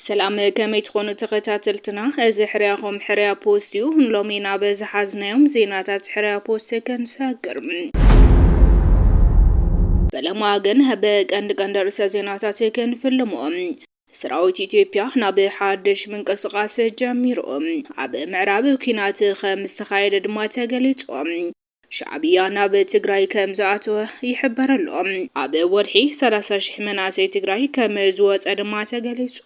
ሰላም ከመይ ትኾኑ ተኸታተልትና፣ እዚ ሕርያኹም ሕርያ ፖስት እዩ። ሎሚ ናብ ዝሓዝናዮም ዜናታት ሕርያ ፖስት ክንሰግር በለማ ግን ብቀንዲ ቀንዲ ርእሰ ዜናታት ክንፍልሞ ሰራዊት ኢትዮጵያ ናብ ሓድሽ ምንቅስቓስ ጀሚሩ። ኣብ ምዕራብ ኲናት ከም ዝተኻየደ ድማ ተገሊጹ። ሻዕብያ ናብ ትግራይ ከም ዝኣተወ ይሕበር ኣሎ። ኣብ ወርሒ ሰላሳ ሽሕ መናእሰይ ትግራይ ከም ዝወጸ ድማ ተገሊጹ።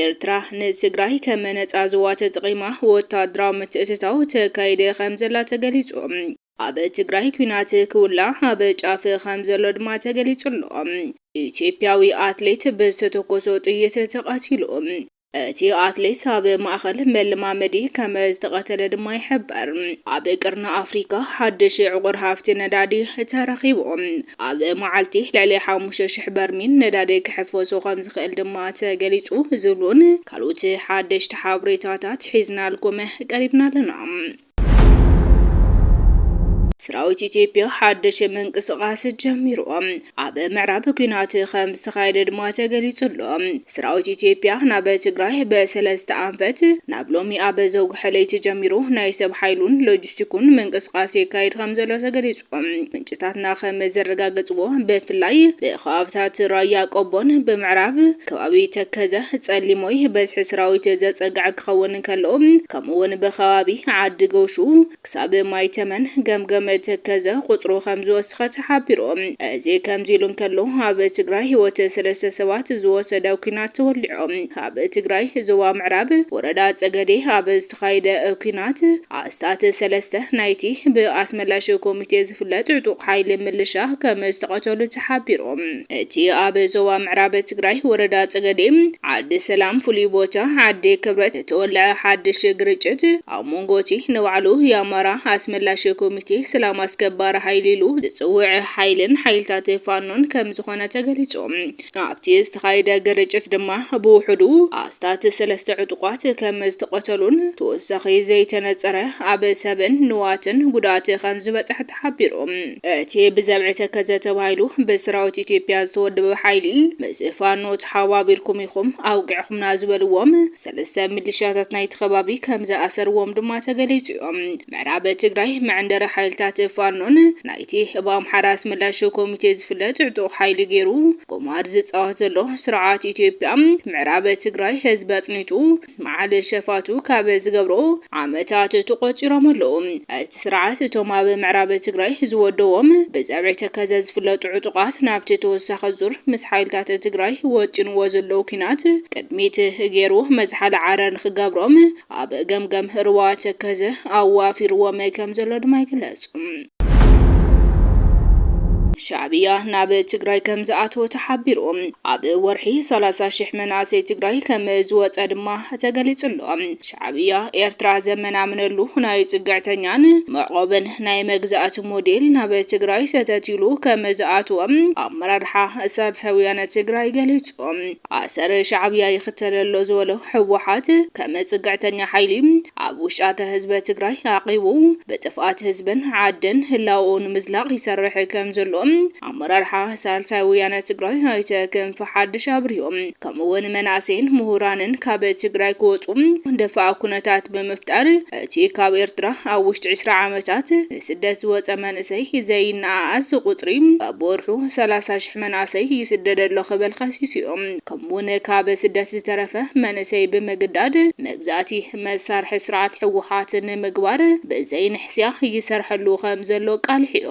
ኤርትራ ንትግራይ ከም ነጻ ዞባ ተጠቒማ ወታደራዊ ምትእትታው ተካይድ ከም ዘላ ተገሊጹ። ኣብ ትግራይ ኲናት ክውላዕ ኣብ ጫፍ ከም ዘሎ ድማ ተገሊጹ ኣሎ። ኢትዮጵያዊ ኣትሌት ብዝተተኮሶ ጥይት ተቐቲሉ። እቲ ኣትሌት ኣብ ማእኸል መለማመዲ ከም ዝተቐተለ ድማ ይሕበር። ኣብ ቀርኒ ኣፍሪካ ሓድሽ ዕቑር ሃፍቲ ነዳዲ ተረኺቡ። ኣብ መዓልቲ ልዕሊ ሓሙሽተ ሽሕ በርሚል ነዳዲ ክሕፈሶ ከም ዝኽእል ድማ ተገሊጹ ዝብሉን ካልኦት ሓደሽቲ ሓበሬታታት ሒዝናልኩም ቀሪብና ኣለና። ሰራዊት ኢትዮጵያ ሓድሽ ምንቅስቓስ ጀሚሩ ኣብ ምዕራብ ኲናት ከም ዝተኻየደ ድማ ተገሊጹ ኣሎ። ሰራዊት ኢትዮጵያ ናብ ትግራይ ብሰለስተ ኣንፈት ናብ ሎሚ ኣብ ዘውግሐ ለይቲ ጀሚሩ ናይ ሰብ ሓይሉን ሎጂስቲኩን ምንቅስቓስ የካይድ ከም ዘሎ ተገሊጹ። እቶም ምንጭታትና ከም ዘረጋገፅዎ ብፍላይ ብኸባብታት ራያ ቆቦን ብምዕራብ ከባቢ ተከዘ ፀሊሞይ በዝሒ ሰራዊት ዘፀግዐ ክኸውን እንከሎ ከምኡ እውን ብኸባቢ ዓዲ ጎሹ ክሳብ ማይ ተመን ገምገም ተከዘ ቁፅሩ ከም ዝወሰኸ ተሓቢሩ። እዚ ከምዚ ኢሉ እንከሎ ኣብ ትግራይ ህይወት ሰለስተ ሰባት ዝወሰደ ኲናት ተወሊዑ። ኣብ ትግራይ ዞባ ምዕራብ ወረዳ ፀገዴ ኣብ ተኻይደ ኲናት፣ ኣስታት ሰለስተ ናይቲ ብኣስመላሽ ኮሚቴ ዝፍለጥ ዕጡቕ ሓይሊ ምልሻ ከም ዝተቐተሉ ተሓቢሩ። እቲ ኣብ ዞባ ምዕራብ ትግራይ ወረዳ ፀገዴ ዓዲ ሰላም ፍሉይ ቦታ ዓዲ ክብረት ዝተወለዐ ሓድሽ ግርጭት ኣብ ሞንጎ እቲ ንባዕሉ የኣማራ ኣስመላሽ ኮሚቴ ሰላም ኣስከባሪ ሓይሊ ኢሉ ዝፅውዕ ሓይልን ሓይልታት ፋኖን ከም ዝኾነ ተገሊፁ። ኣብቲ ዝተኻየደ ግርጭት ድማ ብውሑዱ ኣስታት ሰለስተ ዕጡቓት ከም ዝተቐተሉን ተወሳኺ ዘይተነጸረ ኣብ ሰብን ንዋትን ጉድኣት ከም ዝበጸሐ ተሓቢሩ። እቲ ብዘብዒ ተከዘ ተባሂሉ ብሰራዊት ኢትዮጵያ ዝተወደበ ሓይሊ ምስ ፋኖ ተሓባቢርኩም ኢኹም ኣውቂዕኹምና ዝበልዎም ሰለስተ ሚሊሻታት ናይቲ ከባቢ ከም ዝኣሰርዎም ድማ ተገሊጹ'ዩ። ምዕራብ ትግራይ መዕንደሪ ሓይልታት ፋኖን ናይ እቲ ብኣምሓራ ኣስመላሽ ኮሚቴ ዝፍለጥ ዕጡቕ ሓይሊ ገይሩ ቁማር ዝፃወት ዘሎ ስርዓት ኢትዮጵያ ምዕራብ ትግራይ ህዝቢ ኣፅኒቱ መዓል ሸፋቱ ካብ ዝገብሮ ዓመታት ተቖፂሮም ኣለዉ። እቲ ስርዓት እቶም ኣብ ምዕራብ ትግራይ ዝወደዎም ብፀብዒ ተከዘ ዝፍለጡ ዕጡቓት ናብቲ ተወሳኺ ዙር ምስ ሓይልታት ትግራይ ወጢንዎ ዘለዉ ኲናት ቅድሚት ገይሩ መዝሓሊ ዓረር ንክገብሮም ኣብ ገምገም ሩባ ተከዘ ኣዋፊርዎም ከምዘሎ ድማ ይግለፅ። ሻዕብያ ናብ ትግራይ ከም ዝኣተወ ተሓቢሩ። ኣብ ወርሒ 30 ሽሕ መናእሰይ ትግራይ ከም ዝወፀ ድማ ተገሊጹ ኣሎ። ሻዕብያ ኤርትራ ዘመናምነሉ ናይ ጽግዕተኛን መዕቆብን ናይ መግዛእቲ ሞዴል ናብ ትግራይ ሰተት ኢሉ ከም ዝኣተወ ኣመራርሓ ሳልሳይ ወያነ ትግራይ ገሊጹ። ዝፈልጦ ኣሰር ሻዕብያ ይኽተል ኣሎ ዝበሎ ህወሓት ከም ፅግዕተኛ ሓይሊ ኣብ ውሽኣተ ህዝበ ትግራይ ኣዕቂቡ ብጥፍኣት ህዝብን ዓድን ህላወኡ ንምዝላቕ ይሰርሕ ከም ዘሎ ኣመራርሓ ሳልሳይ ወያነ ትግራይ ኣይተ ክንፈ ሓድሽ ኣብሪሆም። ከምኡ እውን መናእሰይን ምሁራንን ካብ ትግራይ ክወፁ ደፋእ ኩነታት ብምፍጣር እቲ ካብ ኤርትራ ኣብ ውሽጢ ዕስራ ዓመታት ንስደት ዝወጸ መንእሰይ ዘይነኣኣስ ቁጽሪ በብወርሑ ሰላሳ ሽሕ መናእሰይ ይስደድ ኣሎ ክብል ከሲሱ'ዩ። ከምኡ'ውን ካብ ስደት ዝተረፈ መንእሰይ ብምግዳድ መግዛእቲ መሳርሒ ስርዓት ህወሓት ንምግባር ብዘይንሕስያ ይሰርሐሉ ከምዘሎ ኣቃሊሑ'ዩ።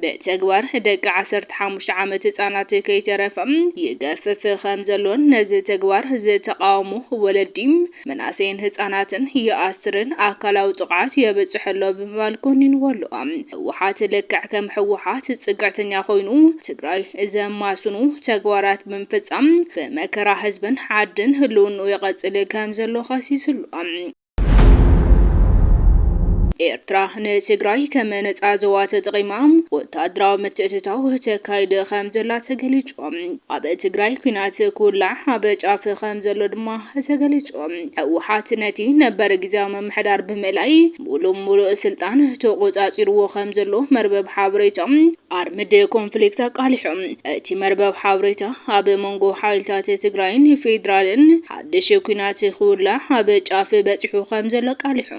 ብተግባር ደቂ ዓሰርተ ሓሙሽተ ዓመት ህጻናት ከይተረፈ ይገፍፍ ከምዘሎን ነዚ ተግባር ዝተቓወሙ ወለዲ መናእሰይን ህፃናትን ይኣስርን ኣካላዊ ጥቕዓት የብፅሕ ኣሎ ብምባል ኮኒንዎ ኣሎ። ህወሓት ልክዕ ከም ህወሓት ፅግዕተኛ ኮይኑ ትግራይ ዘማስኑ ተግባራት ብምፍፃም ብመከራ ህዝብን ዓድን ህልውንኡ የቐፅል ከምዘሎ ከሲሱ ኣሎ። ኤርትራ ንትግራይ ከም ነጻ ዞባ ተጠቒማ ወተሃደራዊ ምትእትታው ተካይድ ከምዘላ ተገሊጹ። ኣብ ትግራይ ኲናት ክውላዕ ኣብ ጫፍ ከምዘሎ ድማ ተገሊፁ። ህወሓት ነቲ ነበር ግዝያዊ ምምሕዳር ብምእላይ ሙሉእ ሙሉእ ስልጣን ተቖፃፂሩዎ ከምዘሎ መርበብ ሓበሬታ ኣርምድ ኮንፍሊክት ኣቃሊሑ። እቲ መርበብ ሓበሬታ ኣብ መንጎ ሓይልታት ትግራይን ፌዴራልን ሓድሽ ኲናት ክውላዕ ኣብ ጫፍ በፂሑ ከምዘሎ ኣቃሊሑ።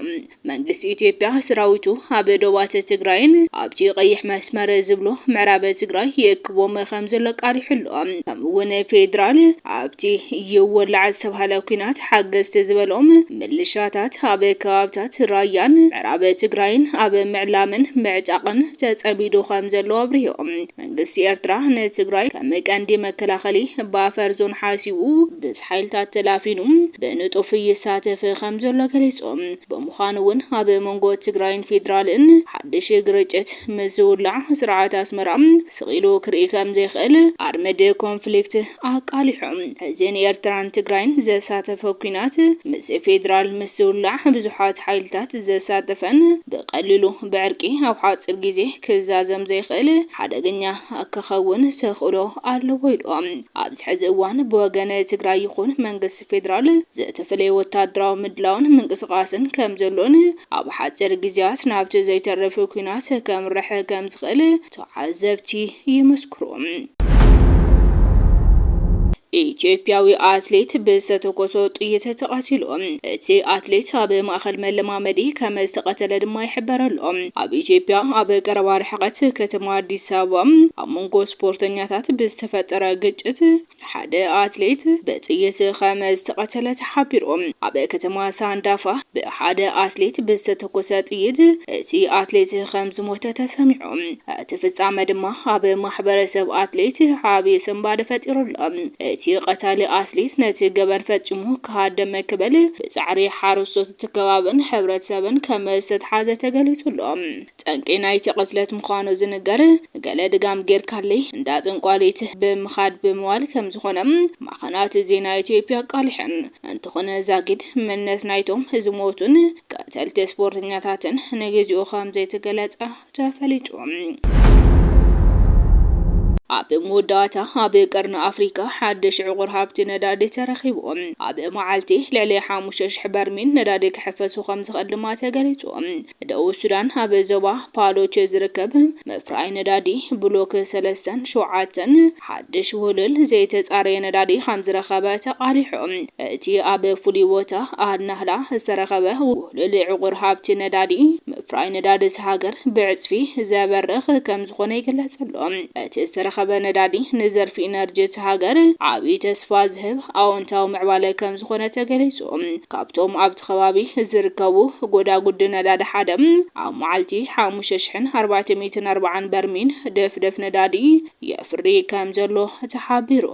መንግስቲ ኢትዮጵያ ስራዊቱ ኣብ ዶባት ትግራይን ኣብቲ ቀይሕ መስመር ዝብሎ ምዕራብ ትግራይ ይእክቦም ከምዘሎ ኣቃሊሑ ኣሎ። ከምኡ እውን ፌድራል ኣብቲ ይወላዕ ዝተብሃለ ኲናት ሓገዝቲ ዝበሎም ምልሻታት ኣብ ከባብታት ራያን ምዕራብ ትግራይን ኣብ ምዕላምን ምዕጣቕን ተፀሚዱ ከምዘሎ ኣብሪሁ። መንግስቲ ኤርትራ ንትግራይ ከም ቀንዲ መከላኸሊ ባፈር ዞን ሓሲቡ ምስ ሓይልታት ተላፊኑ ብንጡፍ ይሳተፍ ከም ዘሎ ገሊጹ። ብምዃኑ እውን ኣብ መንጎ ትግራይን ፌድራልን ሓድሽ ግርጭት ምስ ዝውላዕ ስርዓት ኣስመራ ስቕ ኢሉ ክርኢ ከም ዘይክእል ኣርምድ ኮንፍሊክት ኣቃሊሑ እዚ ንኤርትራን ትግራይን ዘሳተፈ ኲናት ምስ ፌድራል ምስ ዝውላዕ ብዙሓት ሓይልታት ዘሳተፈን ብቐሊሉ ብዕርቂ ኣብ ሓጺር ግዜ ክዛዘም ዘይኽእል ሓደገኛ ክኸውን ተኽእሎ ኣለዎ ኢሉ። ኣብዚ ሕዚ እዋን ብወገን ትግራይ ይኹን መንግስቲ ፌድራል ዝተፈለየ ወታደራዊ ምድላውን ምንቅስቓስን ከምዘሎን ኣብ ሓጺር ግዜያት ናብቲ ዘይተርፍ ኲናት ከምርሕ ከምዝኽእል ተዓዘብቲ ይምስክሩ። ኢትዮጵያዊ ኣትሌት ብዝተተኮሶ ጥይት ተቐቲሉ። እቲ ኣትሌት ኣብ ማእኸል መለማመዲ ከምዝተቐተለ ድማ ይሕበር ኣሎ። ኣብ ኢትዮጵያ ኣብ ቀረባ ርሕቐት ከተማ ኣዲስ ኣበባ ኣብ መንጎ ስፖርተኛታት ብዝተፈጠረ ግጭት ሓደ ኣትሌት ብጥይት ኸም ዝተቐተለ ተሓቢሩ። ኣብ ከተማ ሳንዳፋ ብሓደ ኣትሌት ብዝተተኮሰ ጥይት እቲ ኣትሌት ኸም ዝሞተ ተሰሚዑ። እቲ ፍጻመ ድማ ኣብ ማሕበረሰብ ኣትሌት ዓብዪ ስንባደ ፈጢሩ ኣሎ። እቲ ቐታሊ ኣትሌት ነቲ ገበን ፈጺሙ ክሃድም ክብል ብጻዕሪ ሓረስቶት እቲ ከባብን ሕብረተሰብን ከም ዝተትሓዘ ተገሊጹ ኣሎ። ጠንቂ ናይቲ ቅትለት ምዃኑ ዝንገር ገለ ድጋም ጌርካለይ እንዳ ጠንቋሊት ብምኻድ ብምባል ከምዝኾነ ማዕኸናት ዜና ኢትዮጵያ ኣቃሊሐን። እንተኾነ ዛጊድ መንነት ናይቶም ዝሞቱን ቀተልቲ ስፖርተኛታትን ንግዚኡ ከምዘይተገለፀ ተፈሊጡ። ኣብ መወዳእታ ኣብ ቀርኒ ኣፍሪካ ሓድሽ ዕቑር ሃብቲ ነዳዲ ተረኺቡ። ኣብ መዓልቲ ልዕሊ ሓሙሽተ ሽሕ በርሚል ነዳዲ ክሕፈሱ ከምዝኽእል ድማ ተገሊፁ። ደቡብ ሱዳን ኣብ ዞባ ፓሎች ዝርከብ መፍረያይ ነዳዲ ብሎክ ሰለስተን ሸውዓተን ሓድሽ ውህሉል ዘይተጻረየ ነዳዲ ከምዝረኸበ ተቓሊሑ። እቲ ኣብ ፍሉይ ቦታ ኣል-ናህላ ዝተረኸበ ውህሉል ዕቑር ሃብቲ ነዳዲ፣ ምፍራይ ነዳዲ እታ ሃገር ብዕጽፊ ዘበርኽ ከምዝኾነ ይግለጽ'ሎ። እቲ ዝተረኸበ ነዳዲ ንዘርፊ ኢነርጂ እታ ሃገር ዓቢ ተስፋ ዝህብ ኣወንታዊ ምዕባለ ከምዝኾነ ተገሊጹ። ካብቶም ኣብ ኣብቲ ከባቢ ዝርከቡ ጎዳጉዲ ነዳዲ ሓደ ኣብ መዓልቲ ሓሙሽተ ሽሕን ኣርባዕተ ሚእትን ኣርባዓን በርሚል ድፍድፍ ነዳዲ የፍሪ ከምዘሎ ተሓቢሩ።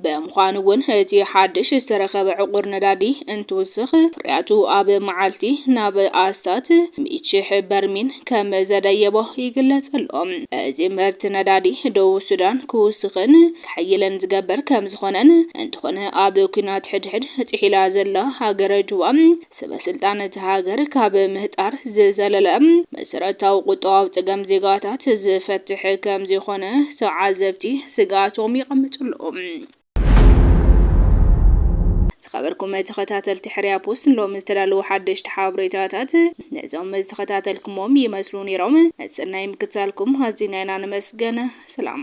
ብምዃኑ እውን እቲ ሓድሽ ዝተረኸበ ዕቑር ነዳዲ እንትውስኽ ፍርያቱ ኣብ መዓልቲ ናብ ኣስታት ሚእቲ ሽሕ በርሚል ከምዘደየቦ ይግለጽ ኣሎ። እዚ ምህርቲ ነዳዲ ደቡብ ሱዳን ክውስኽን ክሕይልን ዝገብር ከምዝኾነን እንተኾነ ኣብ ኩናት ሕድሕድ ጢሒላ ዘላ ሃገረ ጁባ ሰበስልጣን እታ ሃገር ካብ ምህጣር ዝዘለለ መሰረታዊ ቁጠባዊ ፀገም ዜጋታት ዝፈትሕ ከምዘይኾነ ተዓዘብቲ ስግኣቶም የቐምጡ ኣለዉ። ዝኸበርኩም ተኸታተልቲ ሕርያ ፖስት ሎሚ ዝተዳለዉ ሓደሽቲ ሓበሬታታት ነዞም ዝተኸታተልኩሞም ይመስሉ ነይሮም። ሰናይ ምክትታልኩም ኣዚና ኢና ነመስግን። ሰላም።